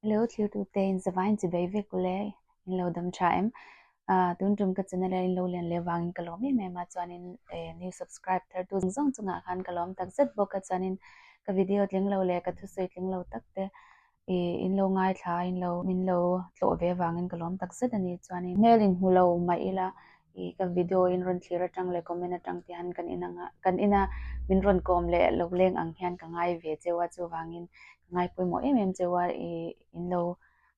Hello thirtu te in zavai in chibei vek ku le in lo dam tha em a tun tum ka channel in lo lian le wang in ka lom em em a chuan in new subscribe thar tu zong zong a khan ka lom tak zet bawk a chuan in ka video tling lo le ka thu sawi tling lo tak te i in lo ngai thla in lo min lo tlo ve wang in ka lom tak zet ani chuan in mail in hmu lo mai ila I ka video in rawn thlir atang leh comment atang te han kan in anga kan in a min rawn kawm leh lo leng ang hian ka ngai ve cheu a chuvangin ka ngai pawimawh em em cheu a i in lo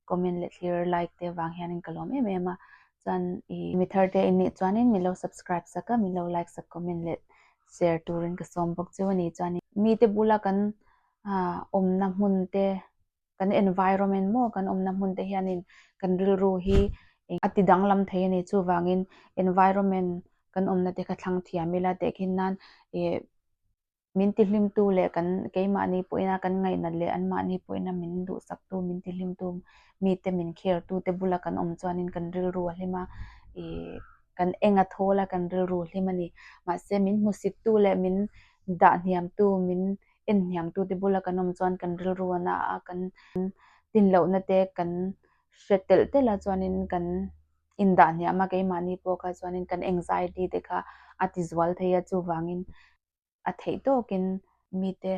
comment leh thlir like te vang hian ka lawm em em a chuan i mi thar te in nih chuan in min lo subscribe sak a min lo like sak comment leh share turin ka sawm bawk cheu a ni chuan in mite bula kan awmna hmun te kan environment maw kan awmna hmun te hianin kan rilru hi eng a ti danglam thei a ni. Chuvangin environment kan awmna te kha thlang thiam ila tehkhin nan eh min ti hlimtu leh kan keimahni pawhina kan ngainat leh an mahni pawhina min duhsaktu min ti hlimtu mite min care tu te bula kan awm chuanin kan rilru a hlim a ih kan enga thawl a kan rilru hlim a ni. Mahse min hmusik tu leh min dah hniam tu min en hniamtute bula kan awm chuan kan rilru a na a, kan tinlohnate kan hre telh telh a chuanin kan indah hniam a, keimahni pawh kha chuanin kan anxiety te kha a tizual thei a, chuvangin a theih tawkin mite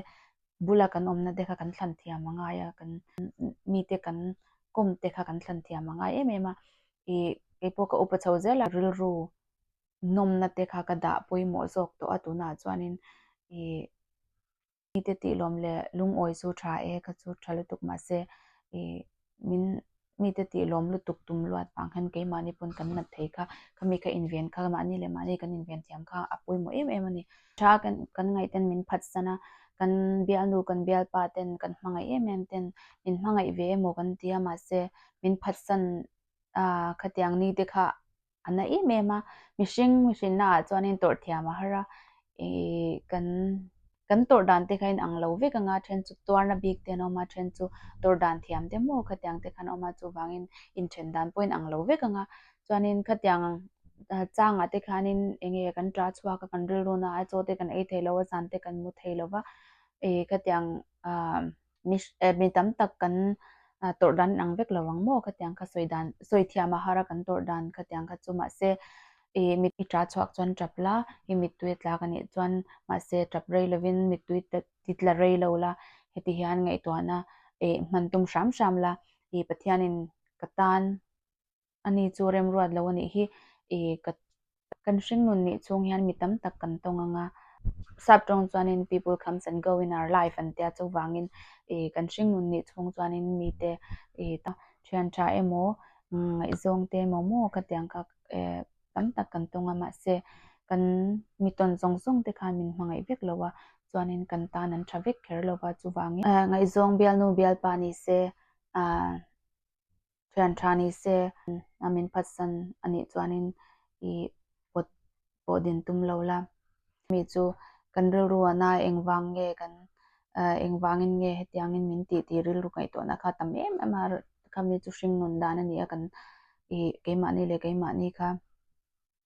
bula kan awmna te kha kan thlanthiam a ngai a, kan mite kan kawmte kha kan thlanthiam a ngai em em a, ih keipawh ka upa chho zel a rilru nawmna te kha ka dah pawimawh zawk tawh a tunah chuanin ih mite tihlawm leh lungawi chu tha e kha chu tha lutuk mahse ih min mite tihlawm lutuk tum luat vang khan keimahni pawn kan nat thei kha khami kha inven kha mahni leh mahni kan inven thiam kha a pawimawh em em a ni. Tha kan kan ngaihten min phatsan a, kan bialnu kan bialpa ten kan hmangaih em em ten min hmangaih ve emaw kan tia mahse min phatsan a khatiang nite kha a na em em a mihring hrinna ah chuanin tawrh thiam a har a ihh kan kan tawrh dan te khahin ang lo vek anga then chu tuarna bik te an awm a then chu tawrh dan thiam te maw khatiang te khan a awm a chuvangin inthen dan pawhin ang lo vek anga chuanin khatiang changa te khanin eng nge kan ṭa chhuak a kan rilru naah a chaw te kan ei theilo a zan te kan hmu theilo va ihh khatiang umm. mi eh mi tam tak kan tawrh dan ang vek lo ang maw ka tiang kha sawi dan sawi thiam a har a kan tawrh dan ka tiang kha chu mahse i mi i ṭah chhuak chuan ṭap la i mittui a tlak a nih chuan mahse ṭap rei lovin mittui ti tla rei lo la heti hian ngaihtuahna eh hman tum hram hram la i pathianin ka tan a ni chu remruat lo a nih hi i ka kan hringnun nih chhung hian mi tam tak kan tawng anga sap tawng chuanin people comes and go in our life an tia chuvangin i kan hringnun nih chhung chuanin mite i ta thian tha emaw ngaihzawng te emaw maw ka tiang kha eh tam tak kan tawng a mahse kan mi tawn zawng zawng te khan min hmangaih vek lo a chuanin kan tan an tha vek kher lo va chuvangin ngaihzawng bialnu bialpa ni se ah Thian tha ni se a min phatsan a nih chuanin i pawt pawh din tum lo la. Mi chu kan rilru a na engvang nge kan engvangin nge hetiangin min tih tih rilru ngaihtuahna kha tam em em a khami chu hring nun dan a ni a kan i keimahni leh keimahni kha.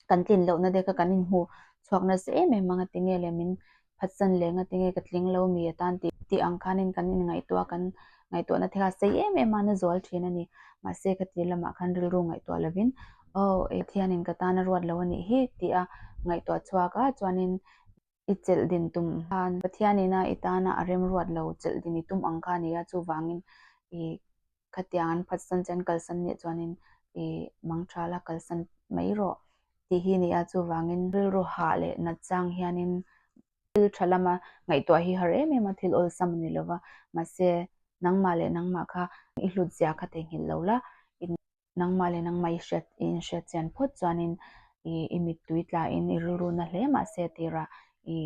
kan tlin loh na deka kan inhmu chhuak nasa em em anga ti nge leh min phatsan leh nga ti nge ka tling lo mi atan tih tih ang khan in kan inngaihtuah kan ngaihtuah na thela sei em em a na zual thin a ni mahse ka ti lamah khan rilru ngaihtuah lo in oh Pathian in ka tan a ruat lo a nih hi tih a ngaihtuah chhuak a chuan in i chelh din tum khan Pathian in a i tana a remruat lo chelh din i tum ang kha a ni a, chuvangin i khatiang an phatsan che an kalsan nih chuanin i mangṭhal a kalsan mai rawh tih hi a ni a, chuvangin rilru hah leh nat chang hianin thil ṭha lama ngaihtuah hi har em em a thil awlsam a ni lova, mahse nangmah leh nangmah kha i hlut zia kha theihnghilh lo la, i Nangmah leh nangmah i hriat, i inhriat chian phawt chuanin i i mittui tlahin i rilruna hle mah se tirah i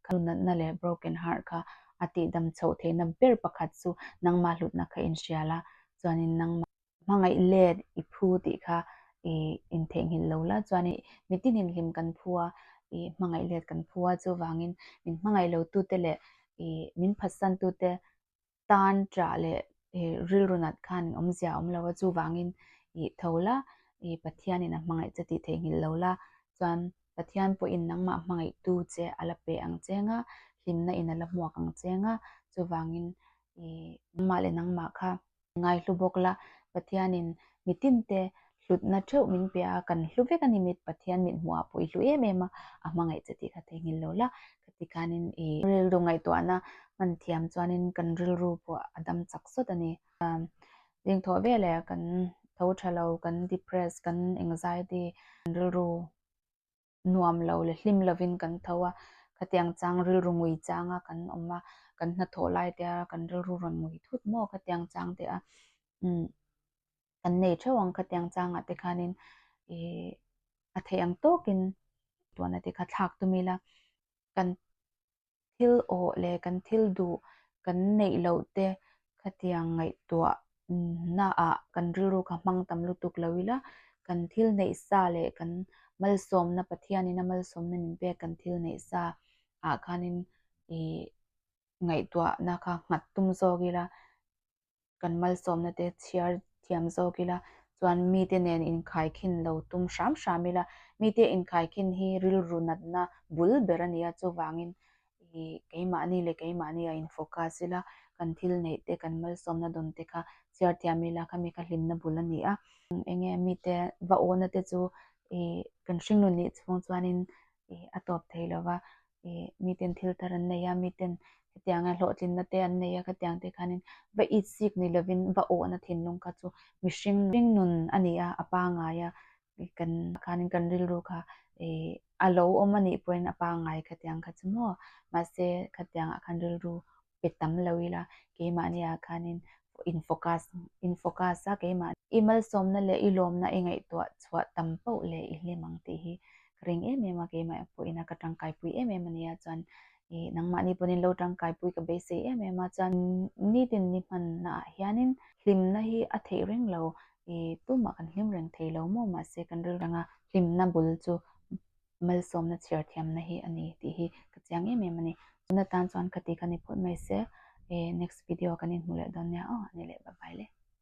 ka nunatna leh broken heart kha a tihdam chhoh theihna ber pakhat chu nangmah hlutna kha in hrial a, chuanin nangmah. Hmangaih let i phu tih kha i in theihnghilh lo la chuanin mitin in hlim kan phu a, i hmangaih let kan phu a chuvangin min hmangaih lotute leh i min phatsan tute tan ṭah leh rilru nat khanin awm zia a awm lo a, chuvangin ih tho la ih Pathianin a hmangaih che tih theihnghilh lo la, chuan Pathian pawhin nangmah hmangaihtu che a la pe ang che nga, hlimna in a la hmuak ang che nga, chuvangin ih nangmah leh nangmah kha ngaihlu bawk la, Pathianin mi tinte hlutna theuh min pe a, kan hlu vek a ni mit Pathian mit hmuhah pawh i hlu em em a, a hmangaih che tih ka theihnghilh lo la, ka tikhanin i rilru ngaihtuahna hman thiam chuanin kan rilru pawh a dam chak sawt a ni. Ding thawh ve leh kan tho tha lo, kan depress, kan anxiety, kan rilru nuam lo leh hlim lovin kan tho a, khatiang chang rilru ngui changa kan awm a, kan hna thawh lai te a kan rilru rawn ngui thut maw khatiang chang te a umm kan nei theuh ang khatiang chang ah te khanin ih a theih ang tawkin tuan a ti kha thlak tumila kan thil awh leh kan thil duh kan neih loh te khatiang ngaihtuah naah kan rilru kha hmang tam lutuk lo ila, kan thil neih sa leh kan malsawmna Pathianin a malsawmna min pek kan thil neih sa ah khanin ih ngaihtuahna kha nghat tum zawk ila kan malsawmna te chhiar thiam zawk ila chuan mite nen inkhai khin lo tum hram hram ila mite inkhai khin hi rilru natna bul ber a ni a, chuvangin i keimahni leh keimahni a in focus ila kan thil neih te kan malsawmna dawn te kha chhiar thiam ila khami kha hlimna bul a ni a. Enge mite va awna te chu i kan hringnun nih chhung chuanin ih a tawp thei lo va, ih miten thil tar an nei a, miten hetianga hlawhtlinna te an nei a khatiang te khanin va it sik ni lovin va awhna thinlung kha chu mihring hringnun a ni a, a pangaia ih kan khanin kan rilru kha ih a lo awm a nih pawhin a pangai khatiang kha chu maw, mahse khatiangah khan rilru pe tam lo ila, keimahniah khanin in focus in focus a keimah i malsawmna leh i lawmna i ngaihtuah chhuah tam pauh leh i hlim ang tih hi ka ring em em a, keimah pawhin ka tangkaipui em em a nia chuan i nangmahni pawhin lo tangkaipui ka beisei em em a chuan nitin ni hmanna ah hianin hlimna hi a theih reng lo i tumah kan hlim reng thei lo maw mahse kan rilreng a hlimna bul chu malsawmna chhiar thiamna hi a ni tih hi ka chiang em em a ni. Tuna tan chuan ka tih ka ni phawt mai se. Next video kan inhmu leh dawn nia aw. Ani leh bye bye le.